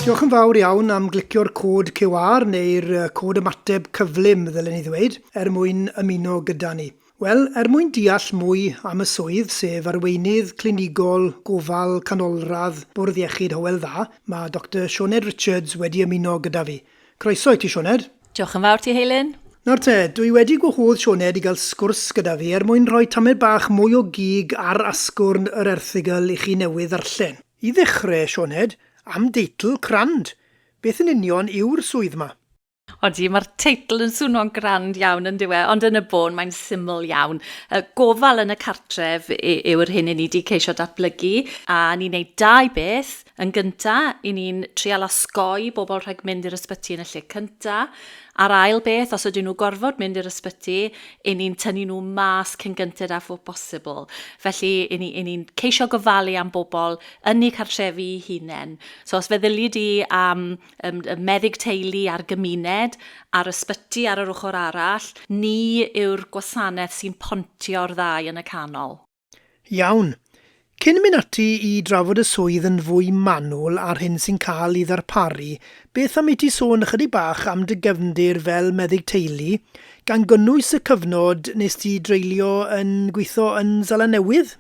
Diolch yn fawr iawn am glicio'r cod QR neu'r cod ymateb cyflym, ddylen ni ddweud, er mwyn ymuno gyda ni. Wel, er mwyn deall mwy am y swydd, sef arweinydd clinigol gofal canolradd Bwrdd Iechyd Hywel Dda, mae Doctor Sioned Richards wedi ymuno gyda fi. Croeso i ti, Sioned. Diolch yn fawr ti, Heilyn. Nawr te, dwi wedi gwahodd Sioned i gael sgwrs gyda fi er mwyn rhoi tamed bach mwy o gig ar asgwrn yr erthygl i chi newydd ddarllen. I ddechrau, Sioned, am deitl grand! Beth yn union yw'r swydd 'ma? Odi, mae'r teitl yn swno'n grand iawn yn dyw e, ond yn y bôn mae'n syml iawn. Gofal yn y cartref yw yr hyn 'yn ni 'di ceisio datblygu, a ni'n neud dau beth, Yn gynta, i ni'n trial osgoi bobl rhag mynd i'r ysbyty yn y lle cynta. A'r ail beth, os ydyn nhw gorfod mynd i'r ysbyty, i ni'n tynnu nhw mas cyn gynted â phob posibl. Felly, i ni, i ni'n ceisio gofalu am bobl yn eu cartrefi i hunain. So, os feddyli di am um, y meddyg teulu a'r gymuned, a'r ysbyty ar yr ochr arall, ni yw'r gwasanaeth sy'n pontio'r ddau yn y canol. Iawn. Cyn mynd ati i drafod y swydd yn fwy manwl a'r hyn sy'n cael ei ddarparu, beth am i ti sôn ychydig bach am dy gefndir fel meddyg teulu, gan gynnwys y cyfnod nes ti dreulio yn gweithio yn Seland Newydd?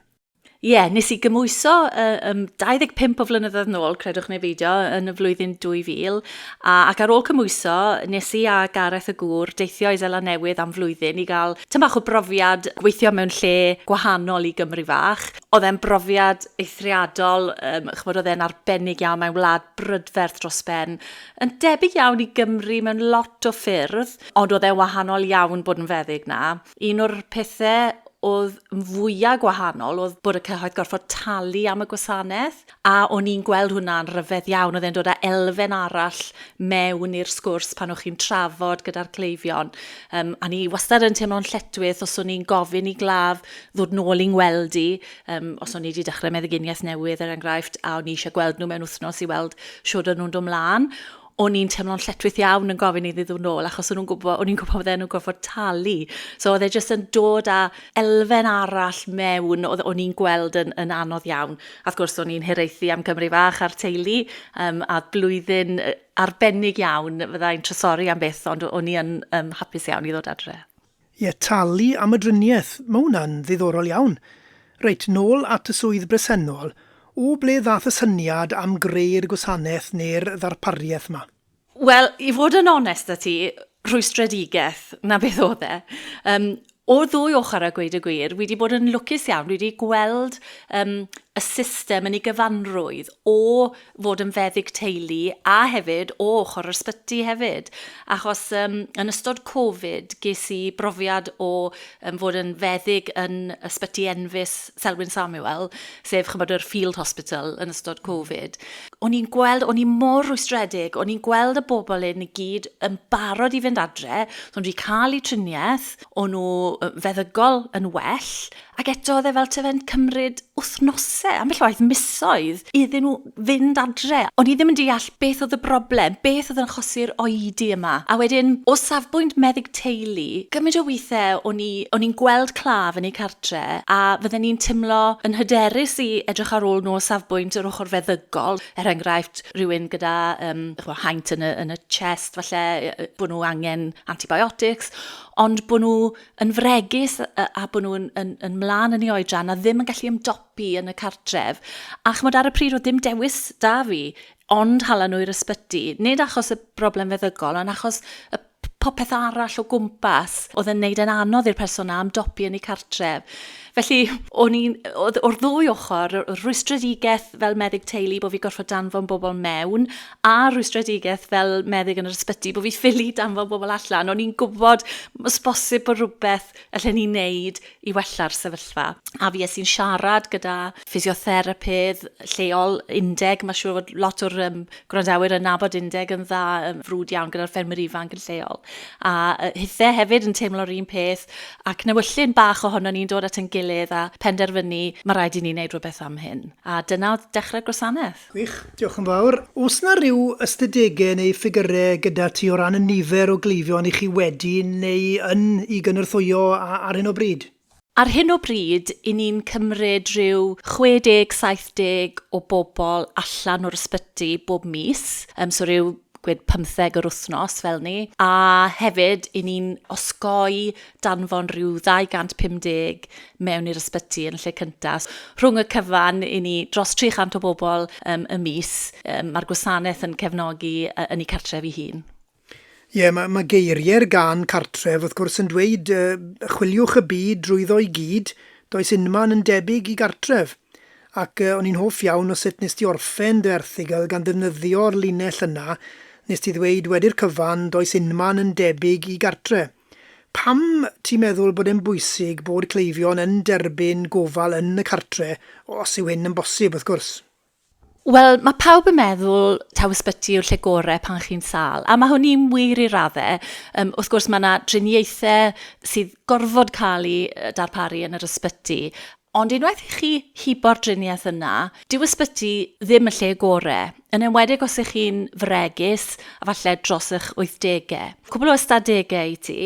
Ie, nes i gymwyso yy yym 25 o flynyddoedd nôl, credwch neu beidio, yn y flwyddyn 2000, A, ac ar ôl cymhwyso, nes i a Gareth y gŵr deithio i Seland Newydd am flwyddyn i gael tym bach o brofiad gweithio mewn lle gwahanol i Gymru fach. Oedd e'n brofiad eithriadol, um, chymod, oedd e'n arbennig iawn, mae'n wlad brydferth dros ben, yn debyg iawn i Gymru mewn lot o ffyrdd, ond oedd e'n wahanol iawn bod yn feddyg na. Un o'r pethau oedd yn fwyaf gwahanol oedd bod y cyhoedd gorfod talu am y gwasanaeth, A o'n i'n gweld hwnna'n ryfedd iawn, oedd e'n dod â elfen arall mewn i'r sgwrs pan o'ch chi'n trafod gyda'r cleifion. Um, a ni wastad yn teimlo'n lletwyth os o'n i'n gofyn i glaf ddod nôl i'n gweld i, um, os o'n i wedi dechrau meddyginiaeth newydd er enghraifft, a o'n i eisiau gweld nhw mewn wythnos i weld siwr o'n nhw'n dod mlaen. o'n i'n teimlo'n lletwith iawn yn gofyn iddi ddod nôl achos o'n nhw'n gwybod, o'n i'n gwybod fydden nhw'n gorfod talu. So oedd e jyst yn dod â elfen arall mewn oedd o'n i'n gweld yn, yn anodd iawn. A wrth gwrs o'n i'n hiraethu am Gymru Fach a'r teulu um, a blwyddyn arbennig iawn fyddai'n trysori am beth ond o'n i yn um, hapus iawn i ddod adre. Ie, talu am y driniaeth, mae hwnna'n ddiddorol iawn. Reit, nôl at y swydd bresennol, o ble ddaeth y syniad am greu'r gwasanaeth neu'r ddarpariaeth 'ma? Wel, i fod yn onest 'da ti, rhwystredigaeth, 'na beth oedd e. Um, o'r ddwy ochr a gweud y gwir, wedi bod yn lwcus iawn, wedi gweld um, y system yn ei gyfanrwydd o fod yn feddyg teulu a hefyd o ochr yr ysbyty hefyd achos yym yn ystod Covid ges i brofiad o yym fod yn feddyg yn ysbyty enfys Selwyn Samuel sef ch'mod yr Field Hospital yn ystod Covid. O'n i'n gweld o'n i mor rwystredig o'n i'n gweld y bobl hyn i gyd yn barod i fynd adre so o'n nhw wedi cael eu triniaeth o'n nhw feddygol yn well Ac eto oedd e fel ta fe'n cymryd wythnosau, ambell waith misoedd, iddyn nhw fynd adre. O'n i ddim yn deall beth oedd y broblem, beth oedd yn achosi'r oedi yma. A wedyn, o safbwynt meddyg teulu, gymaint o weithiau o'n i, o'n i'n gweld claf yn eu cartre a fydden ni'n timlo yn hyderus i edrych ar ôl nhw o safbwynt yr ochr feddygol, er enghraifft rhywun gyda um, chwa, haint yn y, yn y chest, falle bod nhw angen antibiotics, ond bod nhw yn fregus a bod nhw'n yn, yn mlaen yn ei oedran a ddim yn gallu ymdopi yn y cartref. A chymod ar y pryd oedd dim dewis da fi, ond hala nhw i'r ysbyty. Nid achos y broblem feddygol, ond achos y popeth arall o gwmpas oedd yn neud yn anodd i'r person na ymdopi yn ei cartref. Felly, o'n i'n, o'r ddwy ochr, rhwystredigaeth fel meddyg teulu bod fi gorfod danfon bobl mewn, a rwystredigaeth fel meddyg yn yr ysbyty, bod fi ffili danfod bobl allan. O'n i'n gwybod, os bosib, bod rhywbeth allan ni'n neud i wella'r sefyllfa. A fi es i'n siarad gyda ffisiotherapydd lleol, Undeg, mae siŵr fod lot o'r um, gwrandawyr yn nabod Undeg yn dda, um, frwd iawn gyda'r ffermwyr ifanc yn lleol. A uh, hithe hefyd yn teimlo'r un peth, ac newyllun bach ohono ni'n dod at yn gilydd a penderfynu, mae rhaid i ni wneud rhywbeth am hyn. A dyna oedd dechrau'r gwasanaeth. Gwych, diolch yn fawr. Oes 'na ryw ystadegau neu ffigyrau gyda ti o ran y nifer o gleifion i chi wedi neu yn i gynorthwyo ar hyn o bryd? Ar hyn o bryd, 'yn ni'n cymryd rhyw 60, 70 o bobl allan o'r ysbyty bob mis, yym so ryw gwed pymtheg yr wythnos fel 'ny, a hefyd 'yn ni'n osgoi danfon rhyw 250 mewn i'r ysbyty yn lle cyntaf. Rhwng y cyfan i ni dros 300 o bobl um, y mis, um, mae'r gwasanaeth yn cefnogi uh, yn ei cartref ei hun. Ie, yeah, mae, mae geiriau'r gan cartref wrth gwrs yn dweud uh, chwiliwch y byd drwyddo i gyd, does unman yn debyg i gartref. Ac uh, o'n i'n hoff iawn o sut nes ti orffen dy erthigol gan ddefnyddio'r linell yna, nes ti ddweud wedi'r cyfan does unman yn debyg i gartref. Pam ti'n meddwl bod e'n bwysig bod cleifion yn derbyn gofal yn y cartre', os yw hyn yn bosib, wrth gwrs? Wel, mae pawb yn meddwl taw ysbyty yw'r lle gorau pan chi'n sâl, a mae hynny'n wir i raddau. Yym, wrth gwrs, mae 'na driniaethau sydd gorfod cael eu darparu yn yr ysbyty, Ond unwaith i chi hibo'r driniaeth yna, dyw ysbyty ddim y lle gore, yn enwedig os ych chi'n fregus a falle dros eich 80au. Cwbl o ystadegau i ti,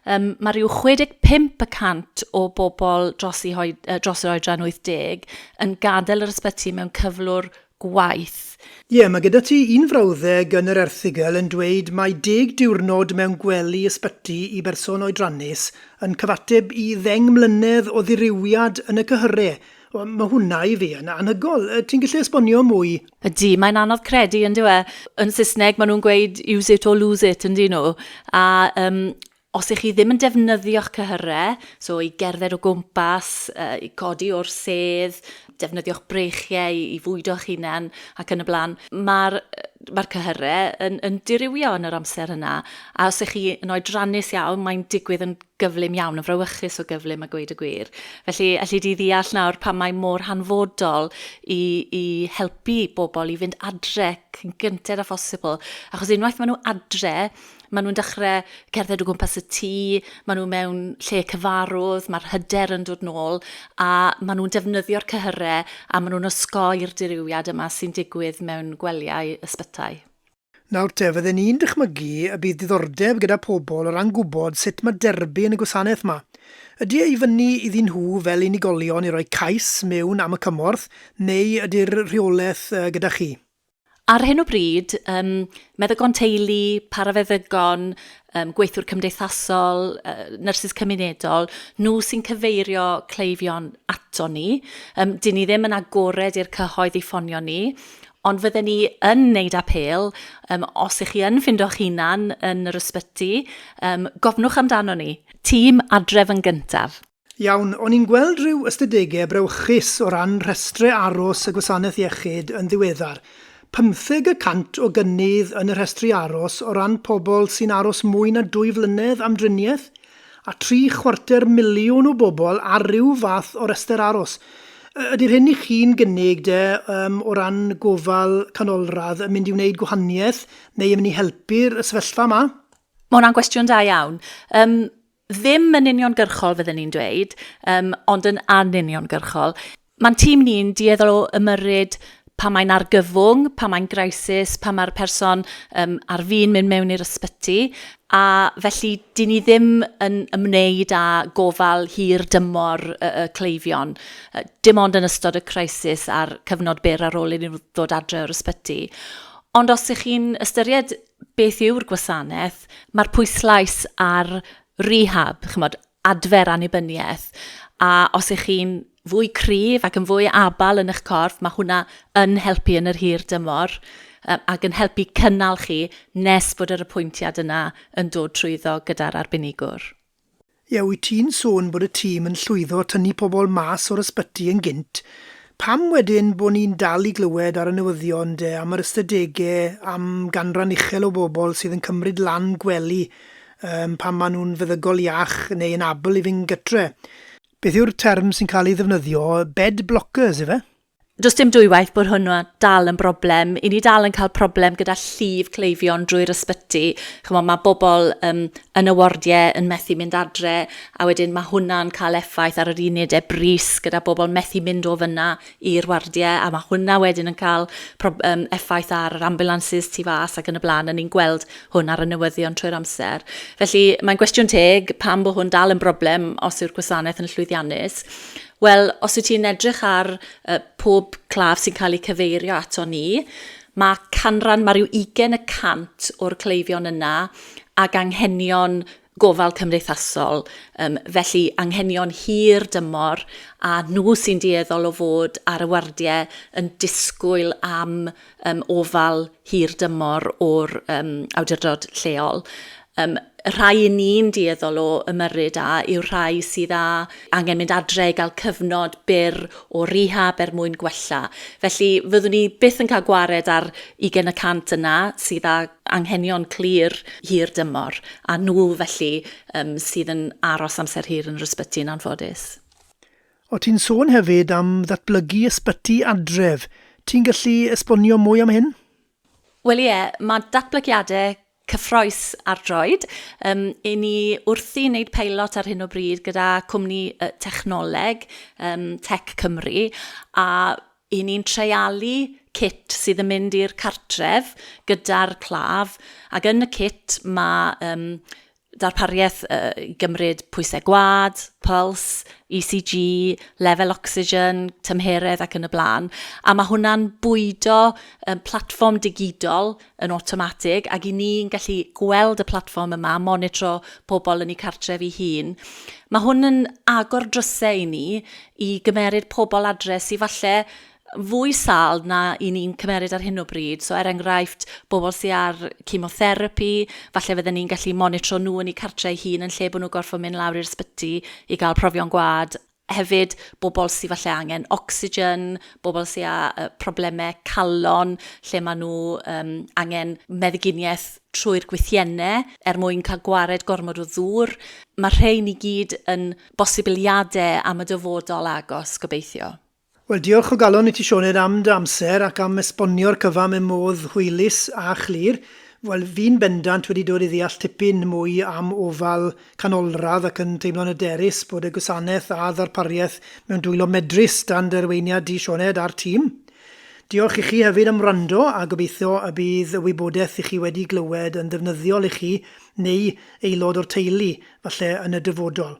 um, mae rhyw 65 y cant o bobl dros, i hoi, dros yr oedran 80 yn gadael yr ysbyty mewn cyflwr gwaith. Ie, mae gyda ti un frawddeg yn yr erthygl yn dweud mai deg diwrnod mewn gwely ysbyty i berson oedrannus yn cyfateb i ddeng mlynedd o ddirywiad yn y cyhyre. Wel, mae hwnna i fi yn anhygol. Ti'n gallu esbonio mwy? Ydy, mae'n anodd credu, yn dyw e? Yn Saesneg maen nhw'n gweud use it or lose it, yn dyn nhw? A yym, Os y'ch chi ddim yn defnyddio'ch cyhyrau, so i gerdded o gwmpas, i godi o'r sedd, defnyddio'ch breichiau i fwydo'ch hunan ac yn y blaen, mae'r mae'r cyhyrau yn, yn dirywio yn yr amser yna. A os ych chi yn oedrannus iawn, mae'n digwydd yn gyflym iawn, yn frawychus o gyflym a gweud y gwir. Felly, allu di ddeall nawr pan mae mor hanfodol i, i helpu bobl i fynd adre cyn gynted â phosibl. Achos unwaith maen nhw adre, Maen nhw'n dechrau cerdded o gwmpas y tŷ, maen nhw mewn lle cyfarwydd, mae'r hyder yn dod nôl, a maen nhw'n defnyddio'r cyhyrau a maen nhw'n osgoi'r dirywiad yma sy'n digwydd mewn gwelyau ysbytai. Nawr te, fydden i'n dychmygu y bydd diddordeb gyda pobl o ran gwybod sut mae derbyn y gwasanaeth 'ma. Ydy e i fyny iddyn nhw fel unigolion i roi cais mewn am y cymorth, neu ydy'r rheolaeth gyda chi? Ar hyn o bryd, yym, meddygon teulu, parafeddygon, um, gweithwyr cymdeithasol, uh, nyrsys cymunedol, nhw sy'n cyfeirio cleifion ato ni. Um, dyn ni ddim yn agored i'r cyhoedd i ffonio ni, ond fydden ni yn wneud apel, um, os ych chi yn ffindo'ch hunan yn yr ysbyty, um, gofnwch amdano ni. Tîm adref yn gyntaf. Iawn, o'n i'n gweld rhyw ystadegau brawychus o ran rhestrau aros y Gwasanaeth Iechyd yn ddiweddar. Pymtheg y cant o gynnydd yn y rhestri aros o ran pobl sy'n aros mwy na dwy flynedd am driniaeth, a tri chwarter miliwn o bobl ar ryw fath o restr aros. Ydy'r hyn i chi'n gynnig, de, yym, o ran gofal canolradd yn mynd i wneud gwahaniaeth neu yn mynd i helpu'r sefyllfa yma? Mae hwnna'n gwestiwn da iawn. Yym, ddim yn uniongyrchol fydden ni'n dweud, um, ond yn anuniongyrchol. Mae'n tîm ni'n dueddol o ymyrryd pa mae'n argyfwng, pa mae'n graisis, pa mae'r person um, ar fin mynd mewn i'r ysbyty, a felly dyn ni ddim yn ymwneud â gofal hir dymor y, y cleifion, dim ond yn ystod y crisis a'r cyfnod byr ar ôl iddyn nhw ddod adre o'r ysbyty. Ond os ych chi'n ystyried beth yw'r gwasanaeth, mae'r pwyslais ar rehab, chymod, adfer annibyniaeth, a os ych chi'n fwy cryf ac yn fwy abal yn eich corff, mae hwnna yn helpu yn yr hir dymor yy ac yn helpu cynnal chi nes bod yr apwyntiad yna yn dod trwyddo gyda'r arbenigwr. Ie, wyt ti'n sôn bod y tîm yn llwyddo tynnu pobl mas o'r ysbyty yn gynt, pam wedyn bod ni'n dal i glywed ar y newyddion de am yr ystadegau am ganran uchel o bobl sydd yn cymryd lan gwely um, pan maen nhw'n feddygol iach neu yn abl i fynd gytre? Beth yw'r term sy'n cael ei ddefnyddio, bed blockers ife? Does dim dwywaith bod hwnnw dal yn broblem. I ni dal yn cael problem gyda llif cleifion drwy'r ysbyty. Chymod, mae bobl um, yn y wardiau yn methu mynd adre, a wedyn mae hwnna'n cael effaith ar yr unedau bris gyda bobl methu mynd o fyna i'r wardiau, a mae hwnna wedyn yn cael um, effaith ar yr ambulances tu fas ac yn y blaen, a ni'n gweld hwn ar y newyddion trwy'r amser. Felly, mae'n gwestiwn teg pam bod hwn dal yn broblem os yw'r gwasanaeth yn llwyddiannus. Wel, os wyt ti'n edrych ar uh, pob claf sy'n cael eu cyfeirio ato ni, mae canran, mae rhyw 20 y cant o'r cleifion yna ag anghenion gofal cymdeithasol, um, felly anghenion hir dymor, a nhw sy'n dueddol o fod ar y wardiau yn disgwyl am yym ofal hir dymor o'r yym awdurdod lleol. Yym y rhai i ni'n dueddol o ymyrryd â yw'r rhai sydd â angen mynd adre i gael cyfnod byr o rehab er mwyn gwella. Felly fyddwn ni byth yn cael gwared ar 20 y cant yna sydd â anghenion clir hir dymor a nhw felly um, sydd yn aros amser hir yn yr ysbyty yn anffodus. O ti'n sôn hefyd am ddatblygu ysbyty adref, ti'n gallu esbonio mwy am hyn? Wel ie, mae datblygiadau cyffroes ar droed. Um, I ni wrthi wneud peilot ar hyn o bryd gyda cwmni uh, technoleg, um, Tech Cymru, a i ni'n treialu cit sydd yn mynd i'r cartref gyda'r claf, ac yn y cit mae um, darpariaeth i gymryd pwysau gwad, pyls, ECG, lefel ocsigen, tymheredd ac yn y blaen. A mae hwnna'n bwydo um, platfform digidol yn awtomatig ac i ni'n gallu gweld y platfform yma, monitro pobl yn eu cartref i hun. Mae hwn yn agor drysau i ni i gymeryd pobl adre sydd falle fwy sâl na i ni'n cymeryd ar hyn o bryd. So er enghraifft, bobl sy ar chemotherapi, falle fydden ni'n gallu monitro nhw yn eu cartre eu hun yn lle bod nhw gorfod mynd lawr i'r sbyty i gael profion gwad. Hefyd, bobl sy falle angen ocsigen, bobl sy â uh, problemau calon, lle maen nhw um, angen meddyginiaeth trwy'r gwythiennau er mwyn cael gwared gormod o ddŵr. Mae rhein i gyd yn bosibiliadau am y dyfodol agos, gobeithio. Wel, diolch o galon i ti Sioned am dy amser ac am esbonio'r cyfan mewn modd hwylus a chlir. Wel, fi'n bendant wedi dod i ddeall tipyn mwy am ofal canolradd ac yn teimlo'n hyderus bod y gwasanaeth a ddarpariaeth mewn dwylo medrus dan dy arweiniad di Sioned a'r tîm. Diolch i chi hefyd am wrando a gobeithio y bydd y wybodaeth i chi wedi glywed yn ddefnyddiol i chi neu aelod o'r teulu falle yn y dyfodol.